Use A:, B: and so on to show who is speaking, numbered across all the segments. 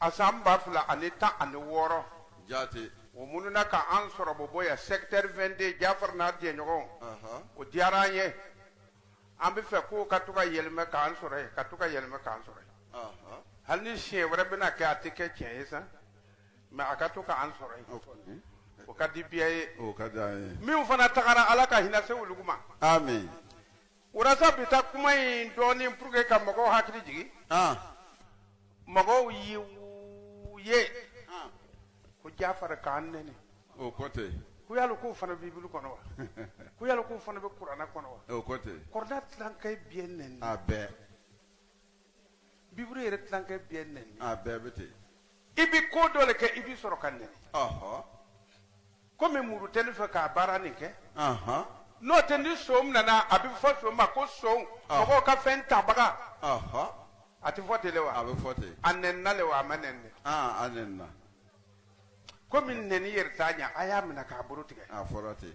A: A san ba fila ani tan ani wɔɔrɔ
B: jaati o mununa
A: ka an sɔrɔ Bɔbɔ yan secteur vingt-deux jafari n'a jɛɲɔgɔn o diyara an ye an bɛ fɛ k'u ka to ka yɛlɛmɛ k'an sɔrɔ ye ka to ka yɛlɛmɛ k'an sɔrɔ ye hali ni siɲɛ wɛrɛ bɛna kɛ a tɛ kɛ tiɲɛ ye sa mɛ a ka to ka an sɔrɔ ye o ka di biɛ ye
B: min fana tagara
A: ala ka hinɛ se olu ma
B: O ra
A: sa bi taa kuma in dɔɔnin pour que ka mɔgɔw hakili jigin. An. Mɔgɔw ye u ye. An. Ko Jafari k'an nɛni. O ko
B: ten. Ko yali k'o
A: fana bɛ bibulu kɔnɔ wa? Ko yali k'o fana bɛ kurana kɔnɔ wa? O ko ten. Kurana
B: tilankɛ
A: bɛɛ nɛni. A bɛɛ. biburu yɛrɛ tilankɛ bɛɛ nɛni a bɛɛ bɛ
B: ten i bɛ
A: ko dɔ le kɛ i bɛ sɔrɔ ka nɛni ɔhɔ komi muru tɛ ne fɛ ka baara nin kɛ ɔhɔ n'o tɛ ni son nana a bɛ fɔ son ma ko son Ah. mɔgɔw ka fɛn tabaga ɔhɔ a tɛ fɔ ten le wa a bɛ fɔ ten a
B: nɛnina le wa a
A: ma nɛni dɛ aa a nɛnina komi nɛni yɛrɛ t'a ɲɛ a y'a minɛ k'a bolo tigɛ a fɔra ten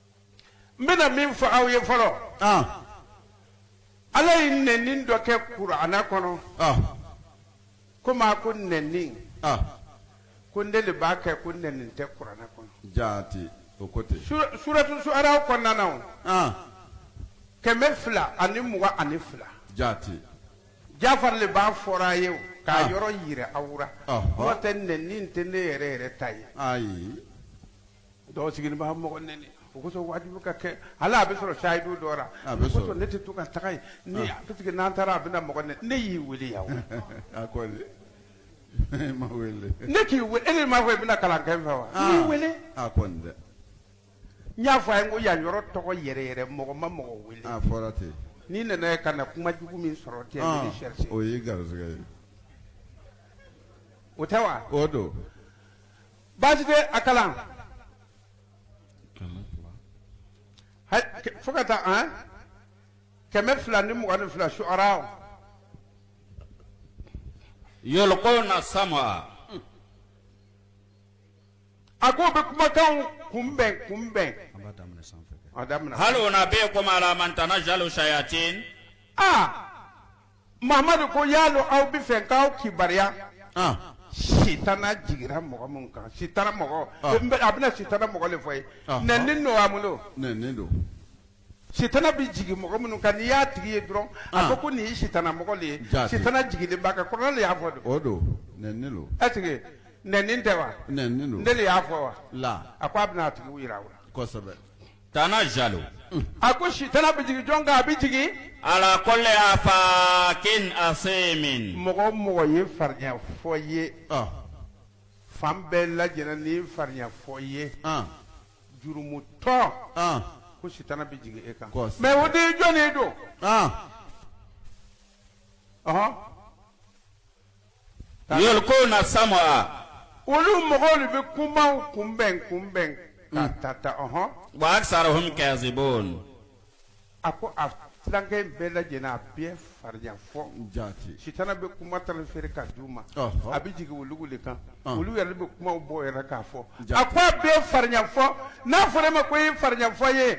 A: n bɛna min fɔ aw ye fɔlɔ ɔn ala ye nɛni dɔ kɛ kurana kɔnɔ ɔn komi a ko nɛni ɔn ko ne de b'a kɛ ko nɛni tɛ kurana kɔnɔ jaati o
B: ko ten Sur- suratu suara
A: kɔnɔna na o, ɔn kɛmɛ fila ani mugan ani fila
B: jaati jafari
A: le b'a fɔra a ye o, k'a Ah. yɔrɔ yira aw la Ɔhɔ. n'o tɛ nɛni tɛ ne yɛrɛ yɛrɛ ta ye ayi dɔw sigilen b'a mɔgɔ nɛni o kosɔn wajibi ka kɛ hali a bɛ sɔrɔ sayidu dɔ la A bɛ o sɔrɔ. kosɔn ne tɛ to ka taga yen ni parce que n'an taara a bɛna mɔgɔ nɛni ne y'i wele yan o. a ko
B: e ma wele ne
A: k'i wele e de m'a fɔ i bɛna kalan kɛ n fɛ wa n y'i wele a kɔni dɛ n y'a fɔ a ye n ko yan yɔrɔ tɔgɔ yɛrɛ yɛrɛ mɔgɔ ma mɔgɔ wele a fɔra
B: ten n'i nana ye
A: ka na kuma jugu min sɔrɔ ten Ah, ne sɛrisi o y'i garisɛgɛ ye o tɛ wa o don baasi tɛ a kalan fo ka taa an kɛmɛ fila ni mugan ni fila suara
C: yulukuna
A: sama a ko bɛ kumakanw kunbɛn kunbɛn a damina hal
C: unabiyukumu ala man tanajalu sayatin aa
A: Mamadu ko yala o aw bɛ fɛ n k'aw kibaruya sitana jiginra mɔgɔ minnu kan sitana mɔgɔ a bɛna sitana mɔgɔ de fɔ i ye nɛni don wa mun don nɛni don sitana bɛ jigin mɔgɔ minnu kan n'i y'a tigi ye dɔrɔn a ko ko nin ye sitana mɔgɔ ye sitana jiginlen b'a kan kurana de y'a fɔ
B: don don ɛseke
A: nɛni tɛ wa ne de y'a
B: fɔ wa
A: a ko a bɛna a
B: tigi jira
A: aw la
B: Tanazzalu
C: a
A: ko sitana bɛ jigin jɔn kan a bɛ jigin ala kulli
C: affakin asimin mɔgɔ mɔgɔ ye
A: farinya fɔ ye fan bɛɛ lajɛlen ni farinya fɔ ye jurumutɔ ko sitana bɛ jigin e kan mɛ o de jɔn don
C: yulkuna sam'a olu
A: mɔgɔw de bɛ kumaw kunbɛn kunbɛn ka hmm. ta ta ɔhɔn wa
C: aksaruhum kazibun a
A: ko a tilankɛ in bɛɛ lajɛlen a bɛɛ farinya fɔ jati sitana
B: bɛ
A: kuma tali feere ka d'u ma a bɛ jigin olu de kan olu yɛrɛ bɛ kumaw bɔ yɛrɛ k'a fɔ a ko a bɛɛ farinya fɔ n'a fɔra e ma ko i ye farinya fɔ ye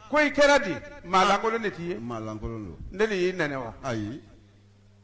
A: ko i kɛra di maa lankolon de t'i ye maa lankolon don ne
B: de y'i nɛni wa
A: ayi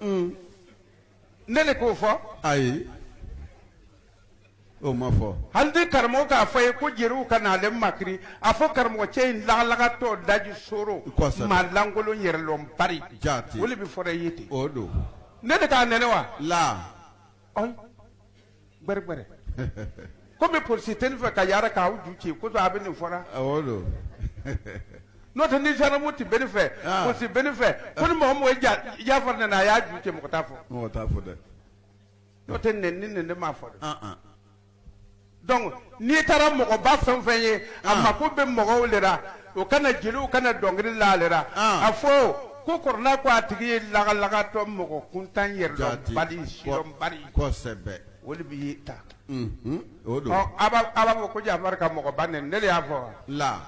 A: Mm. ne de k'o fɔ
B: ayi o ma fɔ hali ni karamɔgɔ k'a fɔ
A: ye ko jeliw kana ale makiri a fɔ karamɔgɔ cɛ in lagalagatɔ daji soro Kosɛbɛ. maa lankolon yɛrɛlɔnbali Jaati. o de bɛ fɔra
B: i ye ten
A: o don ne
B: de k'a nɛni
A: wa la Ayi. gbɛrɛ gbɛrɛ komi polisi tɛ ne fɛ ka yaara k'aw ju ci o kosɔn a bɛ nin fɔra o don n'o tɛ ni zandaramu tun bɛ ne fɛ Ah. polisi bɛ ne fɛ ko ni mɔgɔ mɔgɔ ye ja- jafari nɛni a y'a ju ci mɔgɔ t'a fɔ mɔgɔ t'a fɔ
B: dɛ n'o
A: tɛ nɛni nin ne de m'a fɔ dɛ an an donc N'i taara mɔgɔba fɛn fɛn ye a mako bɛ mɔgɔw de la o kana jeliw kana dɔnkili la ale la a fɔ ko kɔrɔna ko a tigi ye lagalagatɔ mɔgɔ kuntan yɛrɛlɔnbali sidɔnbali o de bɛ
B: ye ta a b'a fɔ
A: ko jafari ka mɔgɔba nɛni ne de y'a fɔ wa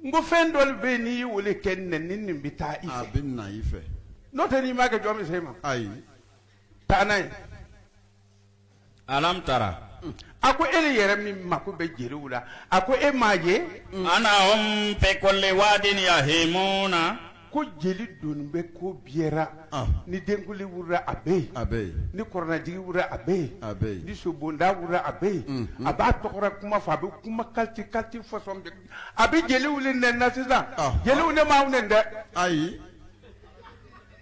A: n ko fɛn dɔ bɛ yen n'i y'o de kɛ nɛni nin bɛ taa i bɛ na i fɛ
B: n'o tɛ n'i m'a kɛ
A: jɔn bɛ se i ma
B: taa
A: n'a ye
C: alam tara a ko e
A: le yɛrɛ min mako bɛ jeliw la a ko e m'a ye annahum
C: fi kulli wadin yahimuna ko jeli
A: dun bɛ ko bɛɛ ra ni denkuli wulila a bɛ yen a bɛ yen ni kɔrɔnajigi wulila a bɛ yen a bɛ yen ni sobonda wulila a bɛ yen a b'a tɔgɔra kuma fɔ a bɛ kuma kalite kalite fɔsɔn bɛɛ a bɛ jeliw le nɛni na sisan jeliw ne m'aw nɛni dɛ ayi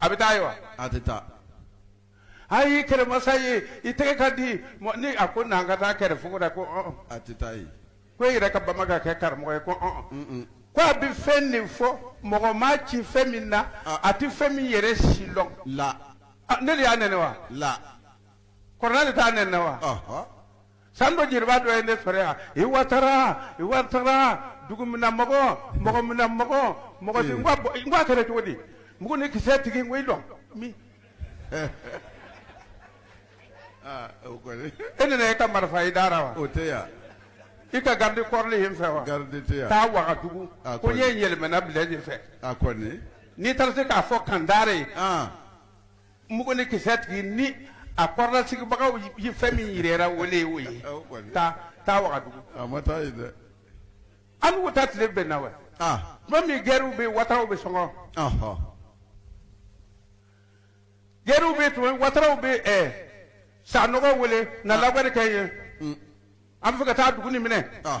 A: a bɛ taa yen wa a
B: tɛ
A: taa ayi kɛlɛmasa ye i tɛgɛ ka di mɔ- ni a ko n'an ka taa kɛlɛ fuga la ko ɔn a tɛ taa
B: yen ko e yɛrɛ ka bama
A: ka kɛ karamɔgɔ ye ko ɔn ko a bɛ fɛn nin fɔ mɔgɔ ma ci fɛn min na Ah. a tɛ fɛn min yɛrɛ si lɔn la Ah,
B: ne de y'a
A: nɛni wa la
B: kɔrɔna
A: de t'a nɛni wa ɔhɔ San dɔ jeliba dɔ ye ne sɔrɔ yan i watara i watara dugumina mɔgɔ mɔgɔmina mɔgɔ mɔgɔ n ko a kɛra cogo di mugu ni kisɛ tigi n ko i dɔn min e nana e ka marifa i
B: da
A: wa o
B: tɛ
A: yan i ka garde corps le ye n fɛ wa garidi tɛ taa
B: wagadugu
A: ko n ye yɛlɛmana Blaise fɛ a n'i
B: taara se k'a
A: fɔ kandare ye Mugu ni kisɛ tigi ni a kɔrɔlasigibagaw ye fɛn min jirara o de ye o ye taa taa wagadugu a ma taa ye dɛ
B: an
A: b'u taa tile bɛn na wa aa tuma min gɛriw bɛ yen wataraw bɛ sɔngɔ ɔhɔ gɛriw bɛ yen tuma min wataraw bɛ ɛ sanɔgɔ wele na labari kɛ ye an bɛ fɛ ka taa dugu nin minɛ aa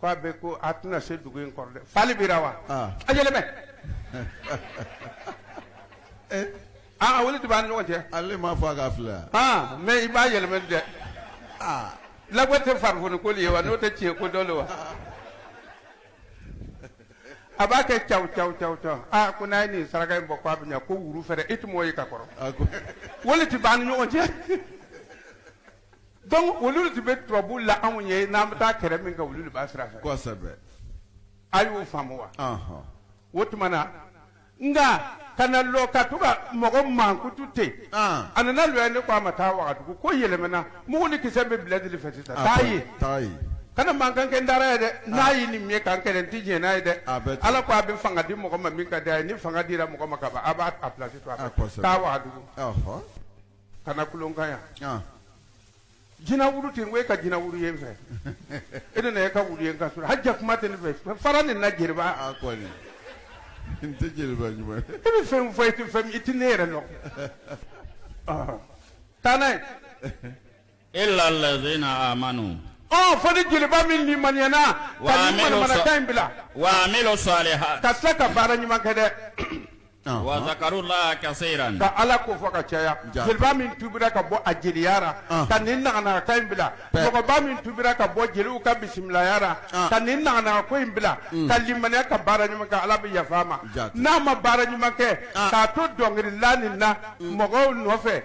A: k'a bɛ ko a tɛna se dugu in kɔrɔ dɛ fali bira wa Ah. a yɛlɛmɛ Eh, aa vérité b'an ni ɲɔgɔn cɛ ale m'a fɔ a k'a filɛ
B: yan. aa mais i b'a
A: yɛlɛmɛ dɛ Ah, labɔ tɛ farifoni ko de ye wa n'o tɛ tiɲɛ ko dɔ le wa a b'a kɛ caw caw caw caw aa ko n'a ye nin saraka in bɔ k'a bɛ ɲa ko wuru fɛrɛ i tun m'o ye ka kɔrɔ a ko vérité b'an ni ɲɔgɔn cɛ Donc olu de bɛ turabu la anw ye n'an bɛ taa kɛlɛ min kɛ olu de b'a sira fɛ.
B: Kosɛbɛ. A
A: y'o faamu wa? Ɔnhɔn. O tuma na nka kana lɔ ka to ka mɔgɔ mankutu ten. An. A nana lɔ yan ne ko a ma taa Wagadugu ko yɛlɛmana mugu ni kisɛ bɛ Blaise le fɛ sisan. Taa yen. Taa yen. Kana mankan kɛ n dara ye dɛ. N'a ye nin ye ka n kɛlɛ n tɛ jɛn n'a ye dɛ. A bɛ ten. Ala ko a bɛ fanga di mɔgɔ ma min ka d'a ye ni fanga dira mɔgɔ ma ka ban a b'a a place to a kan. Aa kosɛbɛ. Taa Wagadugu. Ɔnhɔn. kana kulo n kan yan jinɛ wuru ten ko e ka jinɛ wuru ye n fɛ e le n'e ka wuru ye n ka so rɔ hajɛ kuma tɛ ne fɛ fara nin na jeliba ah,
B: n tɛ jeliba e bɛ fɛn fɔ e
A: tɛ fɛn i tɛ ne yɛrɛ lɔn taa n'a ye
C: illa allazina amanu fɔ ni
A: jeliba min limaniyana ka nin manamanakan in bila wa amilu
C: salihat ka tila ka baara ɲuman
A: kɛ dɛ
C: wa zakarullaha kasiran ka ala ko fɔ ka
A: caya jeliba min tubira ka bɔ a jeliyara ka nin naganagakan in bila mɔgɔba min tubira ka bɔ jeliw ka bisimilayara ka nin naganaga ko in bila ka limaniya ka baara ɲuman kɛ ala bɛ yafa a ma n'a ma baara ɲuman kɛ k'a to dɔnkilila nin na mɔgɔw nɔfɛ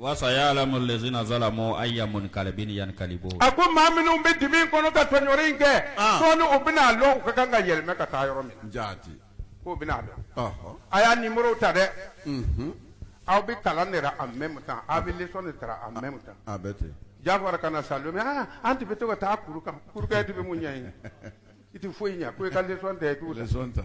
A: Walasasa y'a
C: ala ma z zala ma a ya mɔni kari bɛ ni yanka bɔ a ko maa minnu bɛ
A: di min kɔnɔ ka tɔn in kɛ dɔn u bɛna'a dɔn ka kan ka yɛlɛma ka taa yɔrɔ min ja ko
B: bɛ'a dɔn
A: a y'a ni muru ta dɛ aw bɛ kalan de a mɛn taa aw bɛ sɔn de taara a mɛn taa ja
B: fɔra ka na sa don
A: an tun bɛ to ka taa kuru kan kuru de bɛ mun ɲɛ ɲini i tɛ foyi ɲɛ ko i ka tɛ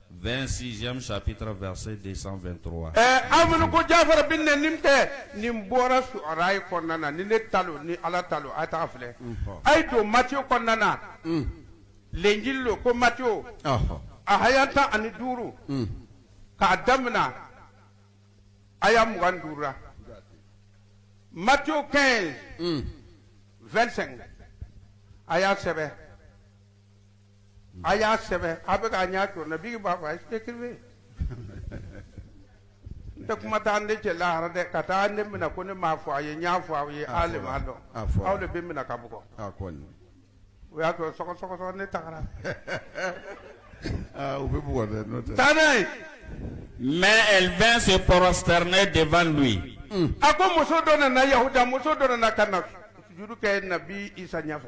C: 26 chapitre verset 223 ɛɛ aw minnu
A: ko jafara bɛ nɛni tɛ nin bɔra suara ye kɔnɔna na ni ne ta lo ni ala ta lo a tag'a filɛ a ye don matiyo kɔnɔna na lenjili lo ko matiyo a haya tan ani duuru k'a damina haya mugan duuru la matiyo 15 25 a y'a sɛbɛn a y'a sɛbɛn a bɛ k'a ɲɛ jɔ na bigi b'a fɔ a ye écrivez n tɛ kuma taa ne cɛ lahara dɛ ka taa ne minɛ ko ne m'a fɔ a ye n y'a fɔ aw ye aw le m'a dɔn a fɔra. aw de bɛ minɛ ka bugɔ a kɔni
B: o y'a
A: sɔrɔ sɔgɔ sɔgɔ sɔgɔ ne tagara
B: aa u bɛ bugɔ dɛ n'o tɛ taa n'a ye
C: Mais elle vint se prosterner devant lui. a ko muso
A: dɔ nana yahuda muso dɔ nana ka na sujudu kɛ nabi isa ɲɛfɛ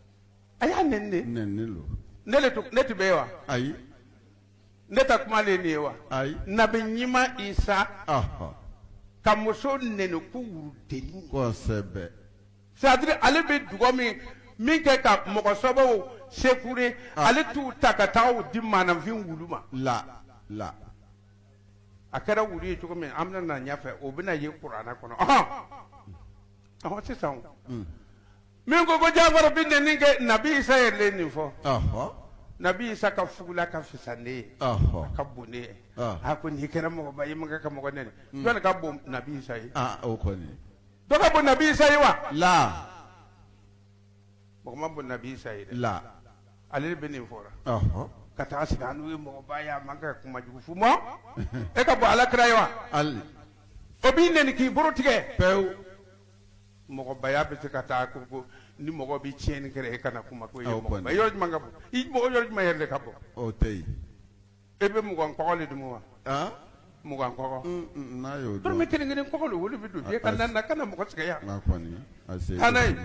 B: a y'a nɛni de nɛni lo ne le tun ne tun bɛ
A: yen wa
B: ayi
A: ne ta kuma le ye nin ye wa ayi
B: nabi ɲuman
A: isa ɔhɔ
B: ka muso
A: nɛni ko wurudennin kosɛbɛ
B: c'est-à-dire
A: ale bɛ dugɔ min min kɛ ka mɔgɔ sɔbɛw sekure Ah. ale t'u ta ka taa u di maanafin wulu ma la la a kɛra wulu ye cogo min an bɛna na ɲɛfɛ o bɛna ye kurana kɔnɔ ɔhɔn ɔhɔn sisan o. min ko ko jafar bɛ nɛni kɛ nabi isa yɛrɛ nin fɔ nabi isa ka fugula ka fisa ne ye ka bon ne ye a ko n'i kɛra mɔgɔba ye man kan ka mɔgɔ nɛni jɔni ka bon nabi isa ye
B: dɔ ka bon nabi
A: isa ye wa la mɔgɔ ma bon nabi isa ye dɛ
B: la ale de bɛ
A: nin fɔra ka taa sigi an n'u ye mɔgɔba ye a man kan ka kuma jugu f'u ma e ka bon ala kira ye wa
B: o b'i
A: nɛni k'i boro tigɛ pewu mɔgɔbaya bɛ se ka taa ko ko ni mɔgɔ bɛ tiɲɛni kɛ e kana kuma ko mɔgɔ yɔrɔ jumɛn ka bon i mɔgɔ yɔrɔ jumɛn yɛrɛ de ka bon tɛ
B: e bɛ
A: mugan kɔgɔ le dun wa mugan kɔgɔ
B: dɔrɔmɛ kelen kelen kɔgɔ le
A: o le bɛ don e ka na kana mɔgɔ sɛgɛn yan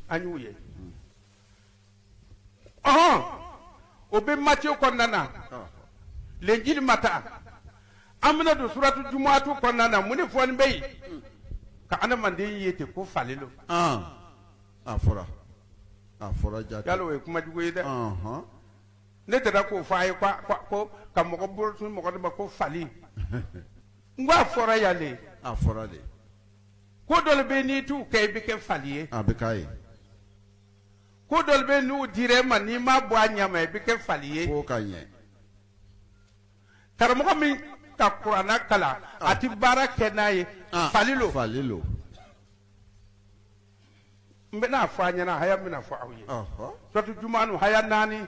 A: an y'u ye ɔhɔn o bɛ matiyo kɔnɔna na lenjili mata an bɛna don suratu jumuatu kɔnɔna na mun de fɔnin bɛ yen ka adamaden ye ten ko fali lo
B: a fɔra a fɔra jate yala o ye kuma
A: jugu ye dɛ Ɔnhɔn. ne tɛra k'o fɔ a ye ko ko- ko ka mɔgɔ bolo tun mɔgɔ de ma ko fali n ko a fɔra yan de a fɔra de
B: ko
A: dɔ bɛ n'i t'u kɛ i bɛ kɛ fali ye a bɛ k'a ye ko dɔ bɛ n'u dira e ma n'i ma bɔ a ɲɛ ma i bɛ kɛ fali ye k'o ka ɲɛ
B: karamɔgɔ
A: min ka kurana kalan a tɛ baara kɛ n'a ye ah, fali lo fali lo n bɛna fɔ a ɲɛna haya n bɛna fɔ aw ye suratu jumuatu haya naani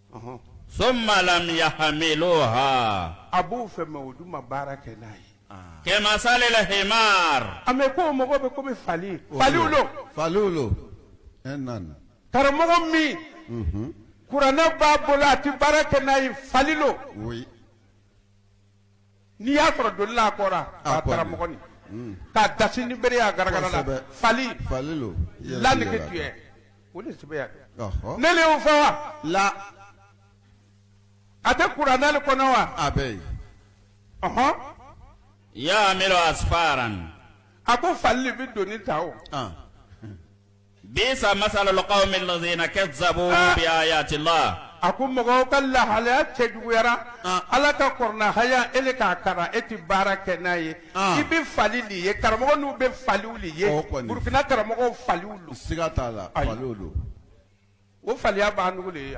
A: Ɔnhɔn.
C: Summa lam yahmiluha. A b'o
A: fɛ mais o dun ma baara kɛ n'a ye. Kemasalil
C: himar. A mɛ k'o mɔgɔ bɛ
A: komi fali. Faliw lo. Faliw lo. Ɛɛ
B: naani.
A: Karamɔgɔ min. Unhun. Kurana b'a bolo a ti baara kɛ n'a ye fali lo. Oui. N'i y'a sɔrɔ doni la a kɔ ra, a karamɔgɔ nin, unhun, k'a dasi ni bere ye a garagara la, kosɛbɛ, fali, fali lo,
B: la nege tuɲɛ,
A: o le sɛbɛn yan, ɔhɔ, ne le y'o fɔ wa, la, a tɛ kurana le kɔnɔ wa, a bɛ
B: yen, ɔhɔn, yahmilu asfaran
C: a ko
A: fali le bɛ doni ta o.
C: Bisa masalul qawmi lazina kazabu bi ayati lah a ko mɔgɔw
A: ka lahalaya cɛjuguyara ala ka kurana haya ele k'a karan e ti baara kɛ n'a ye i bɛ fali le ye karamɔgɔ nu bɛ faliw le ye Burukina karamɔgɔ faliw lo
B: siga t'a la o
A: faliya b'a nugu le ye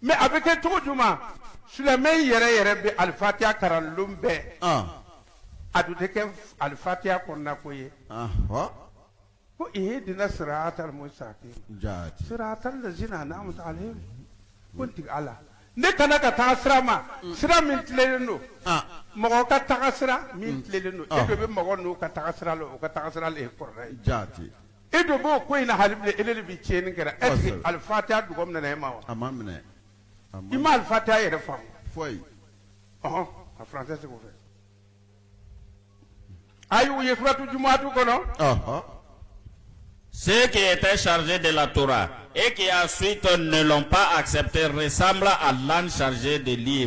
B: Mais
A: a bɛ kɛ cogo jumɛn silamɛ yɛrɛ yɛrɛ bɛ alifatiya karan lon bɛɛ a dun tɛ kɛ alifatiya kɔnɔnako ye ko ihdina siratal mustaqim siratal lazina an'amta alaihim ko n tigi Ala ne kanda ka taga sira ma sira min tilenlen don mɔgɔ ka taga sira min tilenlen don e bɛ mɔgɔ don ka taga sira la o ka taga sira kɔrɔ E don b'o ko in na hali e de bɛ tiɲɛni kɛra e alifa tɛ dugawu minɛ e ma wa a ma minɛ
B: i ma
A: alifa tɛ yɛrɛ fa fɔ
B: ɔɔn
A: a fila tɛ segu fɛ ayi u ye furatu jumɛnmatu kɔnɔ
C: se ke e tɛ sarize de la tora e ke y'a suitɔ nelɔn pa asɛpte sanbila a la sarize de li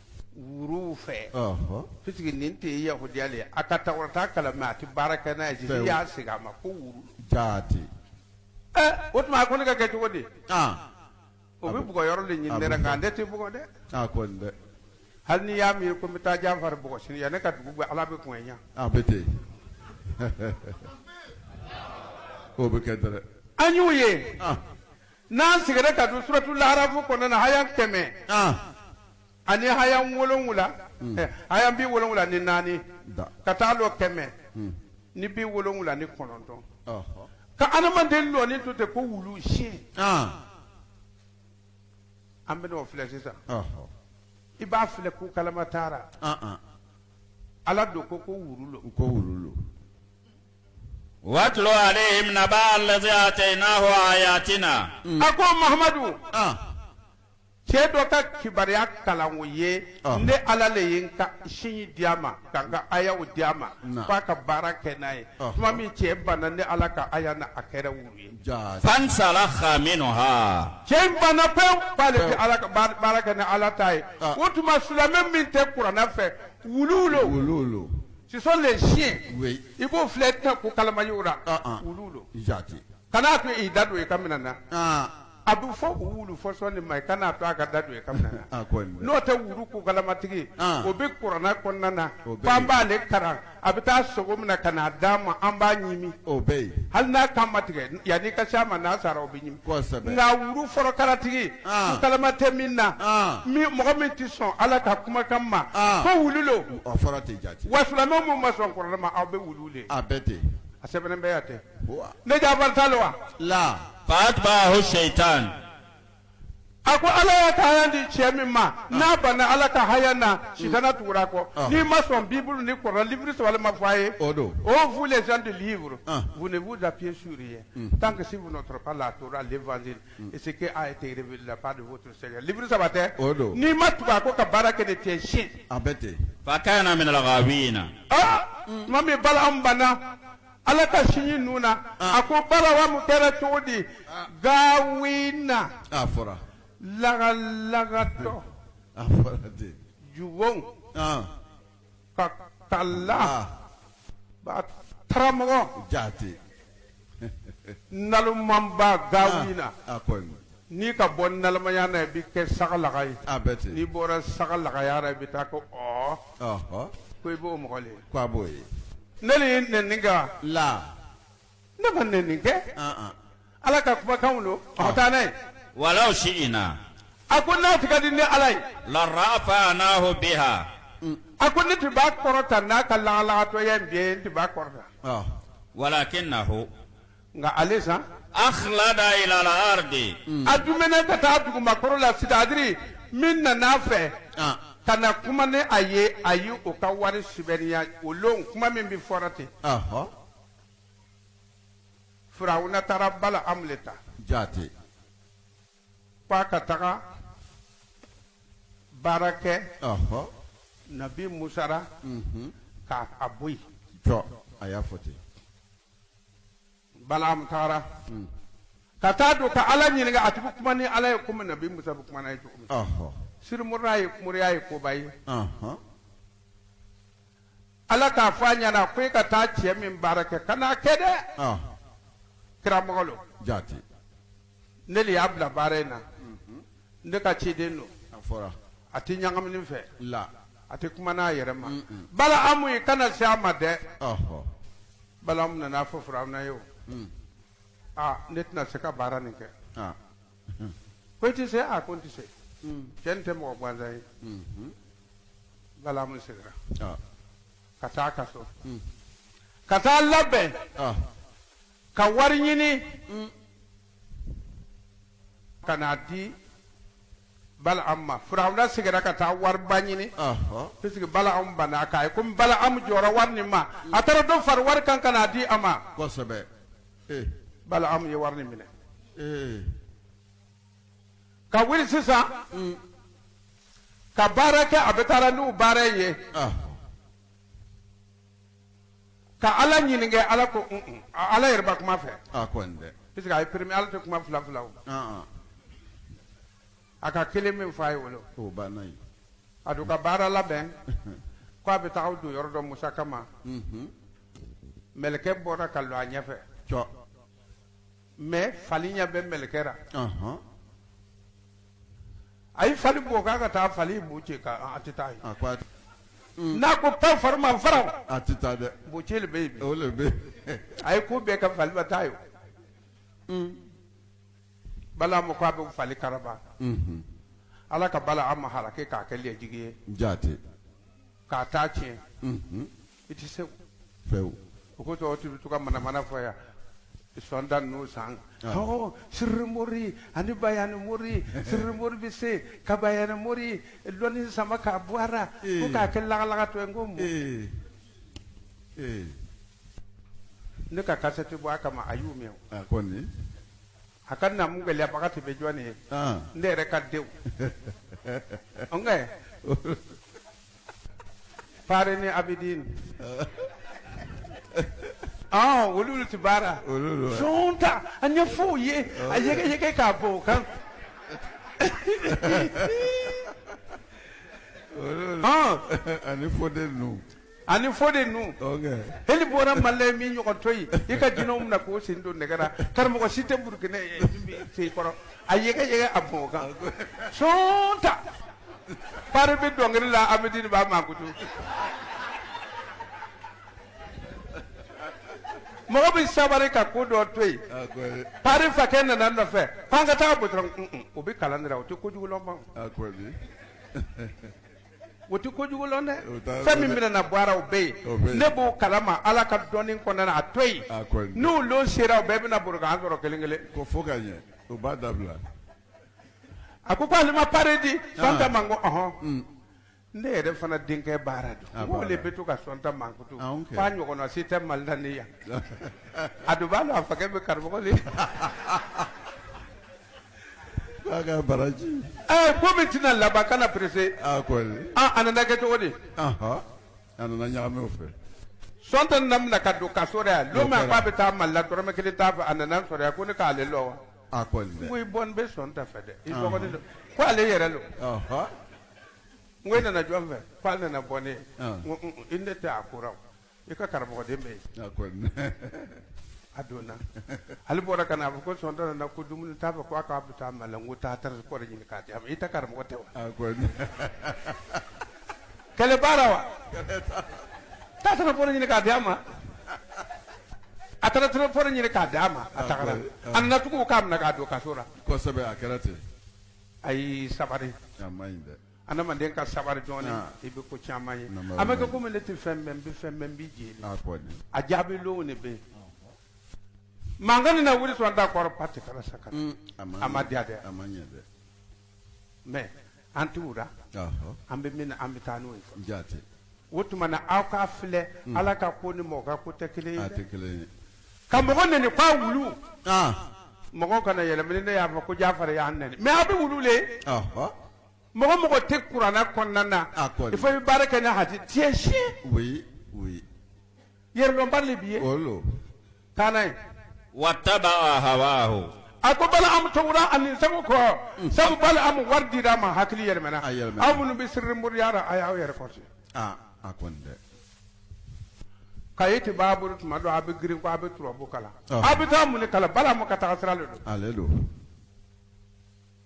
A: wuruw fɛ Ɔhɔn. puisque nin tɛ yahudiya le ye a ka taurata kalan mais a ti baara kɛ n'a ye Fɛn. jeli y'a segin a ma ko wuru Jaati.
B: ɛ
A: o tuma a ko ne ka kɛ cogo di Ah. o bɛ bugɔ yɔrɔ le ɲini ne ra nka ne ti bugɔ dɛ A kɔni
B: dɛ. hali n'i
A: y'a miiri ko n bɛ taa Jafari bugɔ sini yanni ka dugu gbɛ ala bɛ kɔn ɲa A bɛ ten.
B: O bɛ kɛ dɛrɛ. an y'u ye
A: Ah. N'an sigira ka don suratul Arafu kɔnɔna na haya kɛmɛ ani haya wolonwula haya bi wolonwula ni naani ka taa lɔ kɛmɛ ni bi wolonwula ni kɔnɔntɔn ka adamaden lɔni to ten ko wulu si an bɛn'o filɛ sisan i b'a filɛ ko kalama taara ala don ko ko wulu lo ko wulu
C: watlo aleihim naba allazi atainahu ayatina a ko
A: mahamadu cɛ dɔ ka kibaruya kalan o ye Ah. ne ala le ye n ka siɲi di a ma ka n ka ayaw di a ma Na. f'a ka baara kɛ n'a ye Ah. tuma min cɛ banna ne ala ka aya na a kɛra wulu ye jaa
C: fansalakha minha cɛ in banna pewu
A: k'ale tɛ ala ka baara kɛ ni ala ta ye Ah. o tuma silamɛ min tɛ kurana fɛ wuluw lo wuluw lo ce sont les chiens i b'o
B: filɛ i
A: tɛna kukalama ye o ra wuluw lo jaati
B: kana to i da
A: don i ka minan na a bɛ fɔ wulu fɔsɔn ma i kana to a ka da don i ka minan na n'o tɛ wulu kukalamatigi o bɛ kurana kɔnɔna na an b'ale kalan a bɛ taa sogo mina ka n'a d'an ma an b'a ɲimi o bɛ yen hali n'a
B: kan ma
A: tigɛ yani i ka se a ma n'a sara o nka wulu forokalatigi kukalama tɛ min na mɔgɔ min tɛ sɔn ala ka kumakan ma ko wulu
B: lo wa silamɛ min ma
A: sɔn kurana ma a bɛɛ wulu le a bɛ ten
B: a sɛbɛnnen bɛ yan
A: ten ne ta lo wa la
C: fa'atba'ahu shaitan
A: A ko ala y'a ka di cɛ min ma n'a ban ala ka haya na si kana tuguda kɔ n'i ma sɔn bi ni kɔrɔ liuru saba ma fɔ a ye o don o fu
B: de
A: liuru da fi su ye tan ka se la tora a uru saba tɛ o don n'i ma tugu a ko ka baara kɛ de cɛ si a bɛɛ ten fa
B: minɛ la
C: tuma
A: min bala an banna Ala ka siɲi ninnu na a ko balamu kɛra cogo di gawina a fɔra
B: laga
A: lagatɔ a
B: fɔra ten ju
A: ka ka la karamɔgɔ jaati nalonmanba gawina
B: N'i ka
A: bɔ nalamayaa na i bɛ kɛ saga laga ye, a bɛ ten, n'i
B: bɔra
A: saga lagaya la i bɛ taa ko ɔɔ, ɔhɔ, ko i b'o mɔgɔ le ye, ko a b'o ye,
B: ne de
A: ye nɛnini kɛ wa, la,
B: ne ma
A: nɛnini kɛ, an-an, Ala ka kumakanw don, a bɛ taa n'a ye,
C: walaw si'inaa, a ko n'a
A: tun ka di ne Ala ye, la
C: rafa'anaahu bihaa, a ko ne
A: tun b'a kɔrɔta n'a ka lagalagatɔya in bɛɛ ye, n tun b'a kɔrɔta, ɔhɔ, walakinnahu nka ale san
C: akhlada ila al ardi a dumɛnɛ
A: ka taa dugumakɔrɔ la c'est-à-dire min nana a fɛ ah ka na kuma ni a ye a ye o ka wari sibɛriya o lon kuma min bɛ fɔra ten ahɔ firawuna taara balamu le ta jaati k'a ka taga baara kɛ ahɔ nabi musa ra mhm k'a a bɔ yen jɔ a
B: y'a fɔ ten
A: balamu taara ka taa don ka ala ɲininka a tun bɛ kuma ni ala ye komi nabi musa bɛ kuma n'a ye cogo min Ɔhɔ. siri mori ye moriya ye koba ye Ɔhɔ. ala k'a fɔ a ɲɛna ko e ka taa cɛ min baara kɛ kan'a kɛ dɛ Ɔhɔ. kira mɔgɔ lo Jate. ne le y'a bila baara in na ne ka ciden don a fɔra
B: a tɛ
A: ɲagamini fɛ la a
B: tɛ kuma
A: n'a yɛrɛ ma balaamu i kana se a ma dɛ ɔhɔ balaamu nana fɔ firawuna ye o aa ne tɛna se ka baara nin kɛ ah ko i tɛ se a ko n tɛ se cɛ nin tɛ mɔgɔ gansan ye balaamu segira ah ka taa a ka so ka taa labɛn ah Ka wari ɲini ka n'a di balaam ma firawuna segira ka taa wariba ɲini puisque balaam banna k'a ye komi balaam jɔra wari
B: nin
A: ma a taara dɔ fara wari kan ka n'a
B: di a
A: ma balaam ye wari minɛ ka wuli sisan ka baara kɛ a bɛ taa n'u baara ye Ka ala ɲininka ala ko ala yɛrɛ ma kuma a fɛ puisque a ye premier ala tɛ kuma fila fila a ka kelen min fɔ a ye o lo a don ka baara labɛn k' a bɛ taa don yɔrɔ dɔ musa kama mɛlɛkɛ bɔra ka lɔ a ɲɛfɛ mɛ fali ɲɛ bɛ mɛlɛkɛ la a ye fali bɔ k'a ka taa fali boci k'a tɛ taa yen n'a ko pan fali ma fara a tɛ taa dɛ
B: boci le bɛ yen a ye ko
A: bɛɛ kɛ fali ma taa yen balaam ko a bɛ fali karaba ala ka balaam halaki k'a kɛ lɛjigi ye jate
B: k'a
A: ta tiɲɛ i tɛ se
B: fewu o kosɔn dɔ
A: bɛ to ka manamana fɔ yan san tan n'o san ɔ siri mori ani bayani mori siri mori bɛ se ka bayani mori lɔnni sama k'a bɔ a ra fo k'a kɛ lagalagatɔ ye n ko mun ne ka kasɛti bɔ a kama a y'u mɛn kɔni
B: A
A: ka namu gɛlɛyabaga tun bɛ jɔn ye ne yɛrɛ ka denw fare ni abidin olu tɛ baara son ta a ɲɛfɔ u ye a yɛgɛyɛgɛ k'a bɔ o
B: kan ani fɔ den ninnu ani fode
A: nu heli bɔra mali la min ɲɔgɔn tɛ yen i ka jinɛw minɛ k'o sen don nɛgɛ ra karamɔgɔ si tɛ burukina sen kɔrɔ a yɛgɛ yɛgɛ a bɔn kan sɔnta pare bɛ dɔnkili la abidini b'a mankutu mɔgɔ bɛ sabari ka ko dɔ to yen pare fakɛ nana nɔfɛ k'an ka taa bɔtɔrɔ o bɛ kalan de la o tɛ kojugu lɔn ban o tɛ kojugu lɔn dɛ O t'a- fɛn min bɛna na bɔ a ra o bɛ yen. ne b'o kalama ala ka dɔnni kɔnɔna na a to yen. n'o lon sera o bɛɛ bɛna bori k'an sɔrɔ kelen kelen ko fo ka ɲɛ
B: o b'a dabila
A: a ko ko ale ma pare di sɔnta ma n ko ɔhɔn ne yɛrɛ fana denkɛ baara don o le bɛ to ka sɔnta mankutu Ah, ok. f'a ɲɔgɔnna si tɛ mali la ni yan a dun b'a dɔn a fakɛ bɛ karamɔgɔ de
B: K'a baraji ɛɛ ko min
A: tɛna laban kana perese a
B: ko a nana
A: kɛ cogo
B: di a nana ɲagami o fɛ sɔnta nana
A: minɛ ka don kaso la don min k'a bɛ taa mali la dɔrɔmɛ kelen t'a fɛ a nana sɔrɔ yan ko ne k'ale lɔn wa n ko i bɔnin bɛ sɔnta fɛ dɛ i dɔgɔnin don ko ale yɛrɛ don ko e nana jɔn fɛ k'ale nana bɔ ne ye ne tɛ a ko I ka karamɔgɔden bɛ yen a donna ale bɔra ka na a fɔ ko sɔnta nana ko dumuni t'a fɛ ko a k'a bɛ taa mali la n ko taa transport ɲini k'a di a ma i ta karamɔgɔ tɛ wa kɛlɛ baara wa taa transport ɲini k'a di a ma a taara transport ɲini k'a di a ma a taara a nana tugu o k'a minɛ k'a don kaso la a kɛra ten
B: a
A: sabari
B: adamaden ka
A: sabari dɔɔnin ah. i bɛ ko caman ye a bɛ kɛ komi ne tɛ fɛn bɛɛ n bɛ fɛn bɛɛ n bɛ jeli ah, a jaabi lonw de bɛ yen mankan na wuli sɔnta kɔrɔ pa tɛ kala sa ka mm, a ma diya dɛ mais an t'o la an bɛ min na an bɛ taa n'o ye o tuma na aw k'a filɛ mm. ala ka ko ni mɔgɔ ka ko tɛ kelen ye dɛ ka mɔgɔ nɛni k'a wulu ah. mɔgɔ kana yɛlɛmɛ ne y'a fɔ ko jafari y'an nɛni mais aw bɛ wulu le mɔgɔ mɔgɔ tɛ kuranɛ kɔnɔna na ah, il faut i bɛ baara kɛ ni hadisi tu es chien oui oui yɛrɛdɔnbali de b'i ye olu taa n'a ye wataba
C: hawahu a ko balaamu
A: tugura a nin sago kɔ mm. sabu balaamu wari dira a ma hakili yɛlɛmɛna aw minnu bɛ siri moriya la a y'aw yɛrɛ kɔrɔsi ah, a kɔni dɛ kayiti b'a bolo tuma dɔ a bɛ girin ko a bɛ turabu kalan ah. a bɛ taa mun de kalan balaamu ka taga sira de don ale don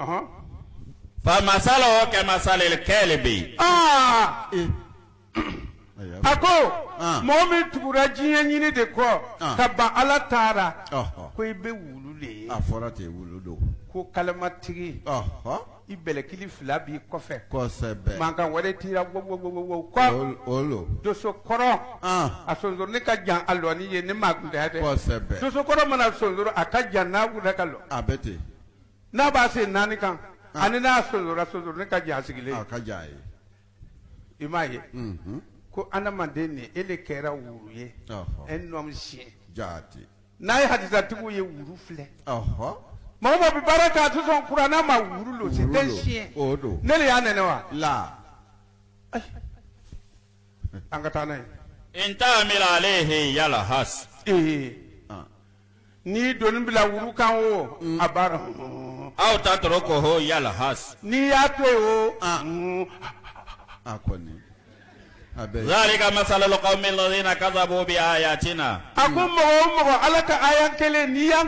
C: Ɔhɔn. Famasaluhu kamasalil kalbi. Aa
A: ee. A ko Ɔn. mɔgɔ min tugura diɲɛ ɲini de kɔ Ɔn. ka ban
B: Ala
A: ta ra Ɔhɔn. ko i bɛ wulu de ye
B: A
A: fɔra ten wulu
B: don.
A: ko kalamatigi Ɔhɔn. i bɛlɛkili fila b'i kɔfɛ Kosɛbɛ.
B: mankan wɛrɛ t'i
A: ra wo wo wo wo wo kɔ O o lo.
B: doso kɔrɔ Ɔn.
A: a sonsoronin ka jan a lɔni ye ni maa kuntanya tɛ Kosɛbɛ. doso kɔrɔ
B: mana sonsoro
A: a ka jan n'a wulila ka lɔ A bɛ ten.
B: n'a b'a
A: sen naani kan ah. ani n'a sonsora sonsoronin ka jan sigilen ah, ka jan
B: ye i
A: m'a ye mhm. ko adamaden nin e le kɛra wuru ye un homme chien jaati
B: n'a ye hadisatigiw
A: ye wuru filɛ
B: mɔgɔ o mɔgɔ bɛ baara kɛ
A: a tɛ sɔn kurana ma wuru lo c'est un chien ne de
B: y'a nɛnɛ
A: wa
B: la
A: an ka taa n'a ye in tahmil
C: alayhi yalhas ee eh.
A: N'i doni bila wuru kan o a baara aw
C: tatrukuhu yalhas n'i y'a to yen
B: o a kɔni
C: zaalika masalul kawmil lazina kazzabu bi ayatina a ko mɔgɔ
A: o mɔgɔ ala ka aya kelen n'i y'a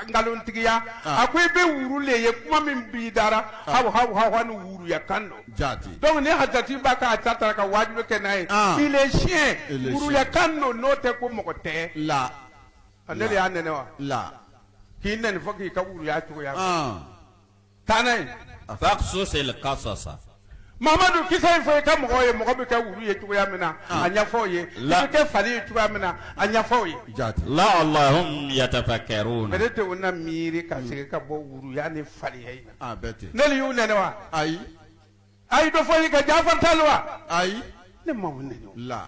A: nkalontigiya a ko i bɛ wuru le ye kuma min b'i da ra aw ha ni wuruya kan don jaati donc ni
B: hadisati
A: b'a k'a ta taara ka wajibi kɛ n'a ye il est chien wuruya kan don n'o tɛ ko mɔgɔ tɛ la
B: A ne de
A: y'a nɛnɛ wa?
B: La. K'i
A: nɛni fɔ k'i ka wuruya cogoya. Ɔn! Taa n'a ye. Faqsus il
C: qasasa. Mamadu
A: kisa in fɔ i ka mɔgɔw ye, mɔgɔ bɛ kɛ wuru ye cogoya min na, a ɲɛfɔ u ye. La. I bɛ kɛ fali ye cogoya min na, a ɲɛfɔ u ye. Jaati.
C: La'allahum yatafakkaruuna. Peut être u
A: na miiri ka segin ka bɔ wuruya ni faliya in na. A bɛ ten. Ne de y'u nɛnɛ
B: wa?
A: Ayi.
B: A ye dɔ
A: fɔ i ka Jaafar t'a la wa? Ayi. Ne
B: m'aw nɛnɛ o.
A: La.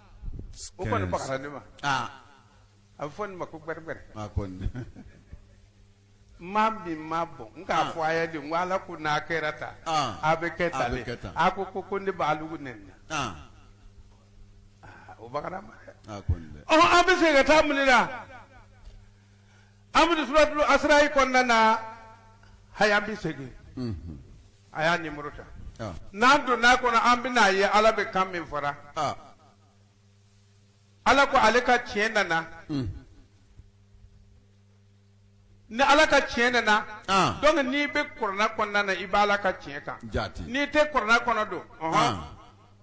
A: o kɔni bagara ne ma aa a bɛ fɔ nin ma ko gbɛrɛgbɛrɛ a kɔni maa min ma bɔn nka Ah. fɔ a ye de n ko ala ko n'a kɛra tan Ah. a bɛ kɛ A tan bɛ de kɛ tan. a ko ko ko ne b'a lugu nɛni na aa Ah, o bagara ma dɛ a kɔni dɛ ɔhɔn an bɛ segin ka taa mun de la an bɛ suratul asirayi kɔnɔna na haya an bɛ segin Mhm. a y'a numéro ta, ɔn, n'an donna a kɔnɔ an bɛna a ye Ala bɛ kan min fɔra, ɔn, Ala ko ale ka tiɲɛ nana, un, ni Ala ka tiɲɛ nana, ɔn, donc n'i bɛ kurana kɔnɔna na i b'Ala ka tiɲɛ kan, jaati, n'i tɛ kurana kɔnɔ don, ɔnhɔn, ɔn.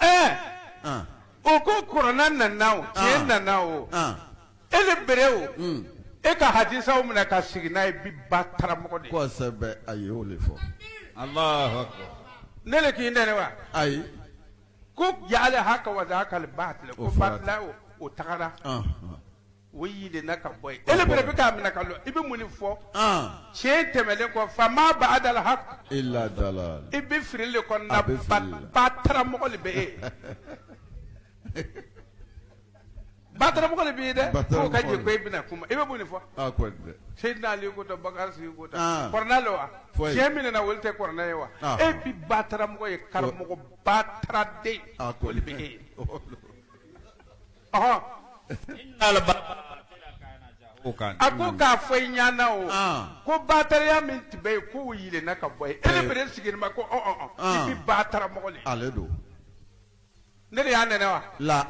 B: Ɛɛ An! o
A: ko kurana nana o, tiɲɛ An! nana o, An! e le bere o, Un! e ka hadisaw minɛ ka sigi n'a ye bi bataramɔgɔ de ye. Kosɛbɛ, a ye o
B: de fɔ.
C: Alahu akibaru. Ne le
A: k'i nɛni wa?
B: Ayi. Ko
A: jaali haka wa zahakal baatili O ko fɔra batila o, o tagara. Ɔnhɔn. O yɛlɛnna ka bɔ yen. E le bere bɛ k'a minɛ ka lɔ, i bɛ mun de fɔ? An! Tiɲɛ tɛmɛlen kɔ, fa maa baadal hak illa dalaal
B: i bɛ fili le
A: kɔnɔna, a bɛ fili la, bataramɔgɔ le bɛ e ye, bataramɔgɔ le b'i ye dɛ, bataramɔgɔ, k'o ka ɲɛ ko e bɛna kuma, i bɛ mun de fɔ? A kɔni dɛ! Seyidina Ali ko tan, Bakari Sidiku ko tan, an, kuranɛ le wa? Foyi! Tiɲɛ min nana o le tɛ kuranɛ ye wa? Ɔnhɔn! E bi bataramɔgɔ ye, karamɔgɔ bataraden, a kɔni, o le bɛ e ye. Ɔhɔn. O kan. A ko k'a fɔ i ɲana o. An. Ko bataraya min tun bɛ yen k'o yelenna ka bɔ yen. E le bere sigilen bɛ ko ɔn ɔn ɔn. An. I bɛ bataramɔgɔ le ye.
B: Ale
A: don. Ne de y'a nɛnɛ wa? La.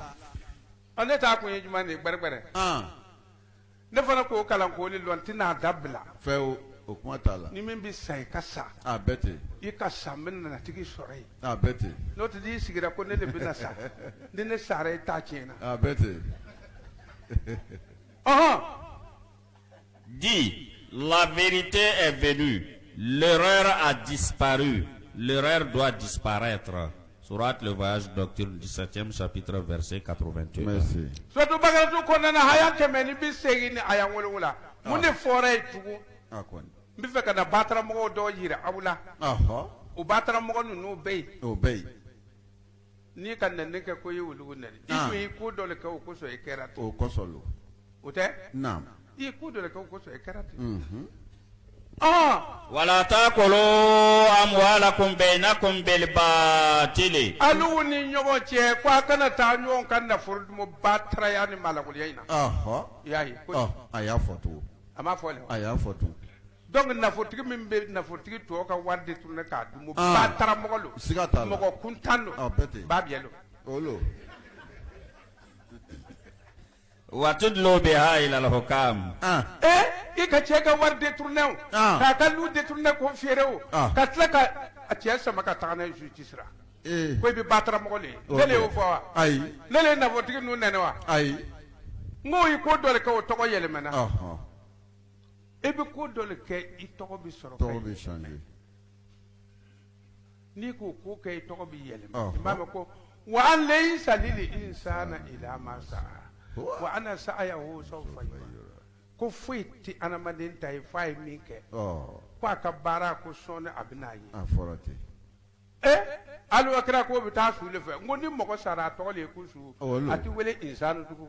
B: Ɔ ne
A: ta kun ye jumɛn de ye? Gbɛrɛgbɛrɛ. An. ne fana k'o kalan k'o le lɔn n tɛna dabila fewu o
B: kuma t'a la ni min bɛ sa i ka
A: sa a bɛ ten i
B: ka sa n
A: bɛna n'a tigi sɔrɔ yen a bɛ ten n'o tɛ
B: n'i sigira ko
A: ne de bɛna sa ni ne sara i ta tiɲɛna a bɛ
B: ten
C: ɔhɔn Dis, la vérité est venue, l'erreur a disparu, l'erreur doit disparaître. Sourate le voyage nocturne 17e chapitre verset 81. Merci.
B: Suratu
A: Bakaratu kɔnɔna aya kɛmɛ ni bi seegin ni aya wolonwula ah. mun de fɔra yen tugun ah, n bɛ
B: fɛ ka na
A: bataramɔgɔw dɔw yira aw la o bataramɔgɔ ninnu bɛ yen o
B: bɛ yen n'i
A: ka nɛni kɛ ko i ye olugu nɛni i ah. tun ye ko dɔ le kɛ o kosɔn i kɛra ten o kosɔn lo
B: o
A: tɛ i ye
B: ko dɔ le
A: kɛ o kosɔn i kɛra
C: ten wala taakulu amwaalakum baynakum bil baatil alugu ni
A: ɲɔgɔn cɛ ko a kana taa ɲɔgɔn ka nafolo dumu bataraya ni malobaliya in na i y'a ye a y'a fɔ
B: tugun a m'a fɔ a
A: y'a fɔ
B: tugun dɔnku
A: nafolotigi min bɛ nafolotigi tɔw ka wari détourné k'a dun bataramɔgɔ lo siga t'a la mɔgɔ
B: kuntan don ba
A: don
C: Watudlu biha ilal hukkaam
A: i ka cɛ ka wari détourné o k'a ka lu détourné k'o feere o ka tila ka a cɛ sama ka taga n'a ye justice ra ko i bɛ bataramɔgɔ le ye ne le y'o fɔ wa ayi ne le ye nafolotigi ninnu nɛnɛ wa ayi n ko i ko dɔ le kɛ o tɔgɔ yɛlɛmana e bɛ ko dɔ le kɛ i tɔgɔ bɛ sɔrɔ N'i k'o ko kɛ i tɔgɔ bɛ yɛlɛma i b'a mɛn ko wa an laysa lil insaani illa maa sa'aa wa anna sa'yahu sawfa yura ko foyi tɛ adamaden ta ye f'a ye min kɛ ko a ka baara ko sɔɔni a bɛn'a
B: ye
A: ee alakira ko bɛ taa su le fɛ n ko ni mɔgɔ sara a tɔgɔ le ye ko su a tɛ wele insan tugun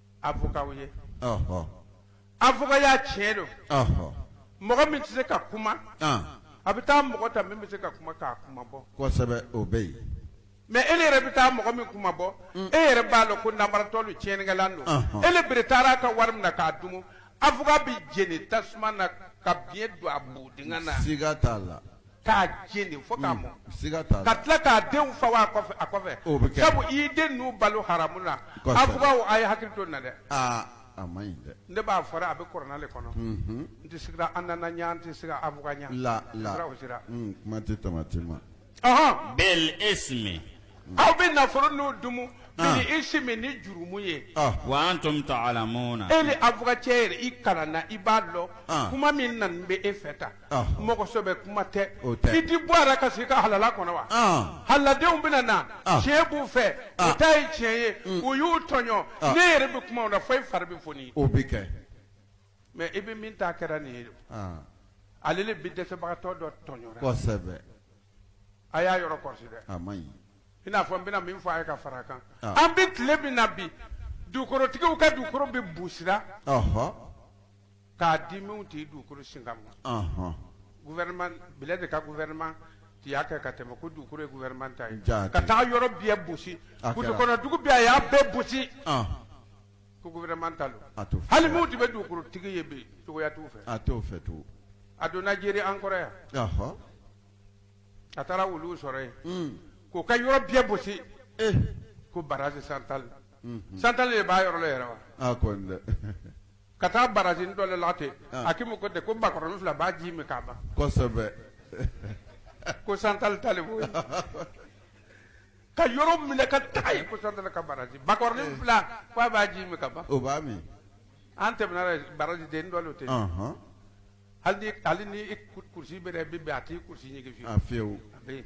A: avocat ye, ɔhɔ, avocatya tiɲɛ don, ɔhɔ, mɔgɔ min tɛ se ka kuma, an, a bɛ taa mɔgɔ ta min bɛ se ka kuma k'a kuma bɔ, kosɛbɛ o bɛ yen.
B: Mais e le
A: yɛrɛ bɛ taa mɔgɔ min kuma bɔ, e yɛrɛ b'a dɔn ko nanbaratɔ don tiɲɛnikɛlan don, ɔnhɔn, e le bere taara a ka wari minɛ k'a dun, avocat bɛ jeni tasuma na ka biɲɛ don a bo dingɛ na, siga t'a la.
B: k'a
A: jeni fo k'a mɔ siga t'a la ka
B: tila k'a denw
A: fa wa a kɔfɛ a kɔfɛ O bɛ kɛ. sabu i
B: y'i den ninnu
A: balo haramu na Kosɛbɛ. avocatw a ye hakili to nin na dɛ aa a ma
B: ɲi dɛ ne b'a fɔra a bɛ kurana
A: le kɔnɔ Mhm. n tɛ sigira an nana ɲa n tɛ sigira avocat ɲa la la Sira o sira. Mm, kuma tɛ
B: tamati ma Ɔhɔn.
C: bil ismi aw
A: bɛ nafolo ninnu dumu Ah. bil ismi ni jurumu ye ah wa antum
C: ta'lamuna e le avocatcɛ
A: yɛrɛ i kalanna i b'a dɔn Ah. kuma min nani bɛ e fɛ tan mɔgɔsɛbɛ kuma tɛ i tɛ bɔ a la ka sigi i ka halala kɔnɔ wa halaladenw bɛna na tiɲɛ b'u fɛ u ta ye tiɲɛ ye u y'u tɔɲɔ ne yɛrɛ bɛ kuma fo i fari bɛ foni o bɛ kɛ
B: mais i
A: bɛ min ta kɛra nin ye ale le bɛ dɛsɛbagatɔ dɔ
B: tɔɲɔra
A: a y'a yɔrɔ kɔrɔsi dɛ
B: i n'a fɔ n bɛna
A: min fɔ a ye ka fara a kan an bɛ tile min na bi dugukolotigiw ka dugukolo bɛ busira k'a di minnu tɛ dugukolo singa ma Ɔnhɔn. gouvernement Blaise de ka gouvernement tun y'a kɛ ka tɛmɛ ko dugukolo ye gouvernement ta ye Jaa, ka taa yɔrɔ bɛɛ bosi A kɛra. kungokɔnɔ dugu bɛɛ a y'a bɛɛ bosi Ɔn, ko gouvernement ta don a t'o fɛ. hali minnu tun bɛ dugukolotigi ye bi cogoya t'u fɛ A t'o fɛ
B: tugun. a donna
A: Jeri an kɔrɔ yan Ɔhɔ. a taara olu sɔrɔ yen Un. k'o ka yɔrɔ bɛɛ bosi Eh. ko barrage central Unhun. central de b'a yɔrɔ la yɛrɛ wa A kɔni dɛ.
B: ka
A: taa barrage dɔ de la ten ah. a k'i ma ko tɛ ko bakɔrɔnin fila b'a ji min k'a ban kosɛbɛ ko central ta le b'o ye ka yɔrɔ minɛ ka taga yen ko central ka barrage bakɔrɔnin eh. fila k'a b'a ji min ka ban o b'a
B: min an
A: tɛmɛna barrage den dɔ de ten hali ni hali ni i kurusi bɛ dɛ bi bɛn a t'i kurusi ɲigin fiyewu a fiyewu a bɛ yen